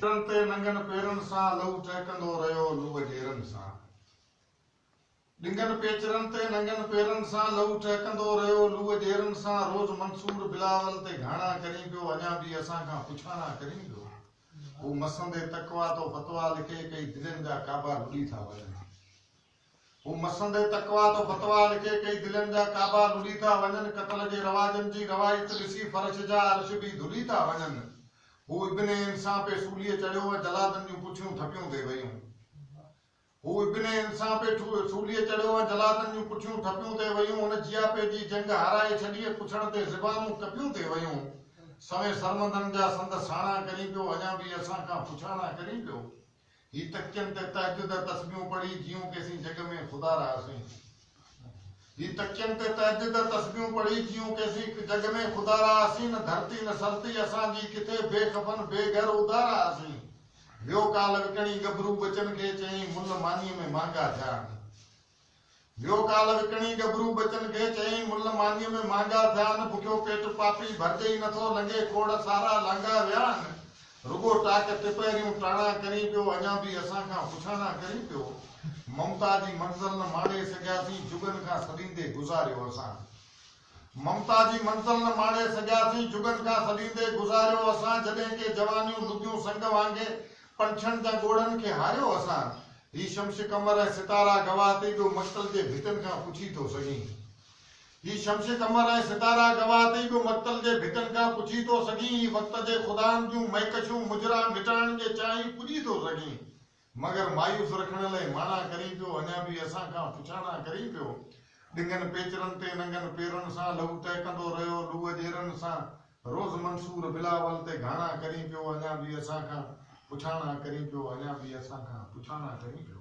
سرن تي ننگن پيرن سان لهو ٽهڪندو رهيو لوء جيرن سان ڏنگن پيچرن تي ننگن پيرن سان لهو ٽهڪندو رهيو لوء جيرن سان روز منصور بلاول تي گهاڻا ڪرين پيو اڃا به اسان کان پڇاڻا ڪرين پيو هو مسندي تقويٰ تو فتويٰ لکي ڪئي دلين جا ڪعبا لڏي ٿا وڃن. هو مسندي تقويٰ تو فتويٰ لکي ڪئي دلين جا ڪعبا لڏي ٿا وڃن قتل جي رواجن جي روائت ڏسي فرش جا عرش به ڌلي ٿا وڃن هو ابن عين سان پئي سوليء چڙهيو ۽ جلادن جون پٺيون ٺپيون ٿي ويون هو ابن عين سان پئي سوليء چڙهيو ۽ جلادن جون پٺيون ٺپيون ٿي ويون هن جياپي جي جنگ هارائي ڇڏي ۽ پڇڻ تي زبانون ڪپيون ٿي ويون سوين سرمندن جا سنڌ ساڻا ڪرين پيو اڃا به اسان کان پڇاڻا ڪرين پيو هي تڪين تي تهجد جا تسبيحون پڙهي جيئون ڪيسين جڳ ۾ خدا رهاسين هي تڪين تي تهجد جا تسبيحون پڙهي جيئون ڪيسين جڳ ۾ خدا رهاسين نه ڌرتي نه سرتي اسان جي ڪٿي بي خفن بي گهر ادا رهاسين ويو ڪالهه وڪڻي ڳڀرو ٻچن کي چيائين مل مانيء ۾ مهانگا ٿيا آهن. ويو ڪالهه وڪڻي ڳڀرو ٻچن کي چيائين مل مانيء ۾ مانگا ٿيا آهن بکيو پيٽ پاپي ڀرجي ئي نٿو لنگهي کوڙ سارا لانگها ويا آهن رڳو ٽاڪ ٽپهريون ٽاڻا ڪرين پيو اڃا به اسان کان پڇاڻا ڪرين پيو ممتا جي منزل نه ماڻي سگهياسين جڳن کان سڏيندي گذاريو اسان ممتا جي منزل نه ماڻي سگهياسين جڳن کان سڏيندي گذاريو اسان جڏهن ڪي جوانيون لڳيون سنگ وانگي پنڇن جا ڳوڙهن کي هاريو اسان هي شمش قمر ۽ ستارا گواهه تي ٻيو مقتل جي ڀتين کان پڇي ٿو سگهين هي شمش قمر ۽ ستارا گواهه تي ٻيو مقتل جي ڀتين کان پڇي ٿو سگهين هي وقت جي خدائن جون مهڪشون مجرا مٽائڻ جي چاهين پڄي ٿو سگهين مگر مايوس رکڻ لئي ماڻا ڪرين پيو، اڃا به اسان کان پڇاڻا ڪرين پيو. ڏنگن پيچرن تي ننگن پيرن سان لهو ٽهڪندو رهيو، لوء ڄيرن سان روز منصور بلاول تي گهاڻا ڪرين پيو، اڃا به اسان کان پڇاڻا ڪرين پيو، اڃا به اسان کان پڇاڻا ڪرين پيو.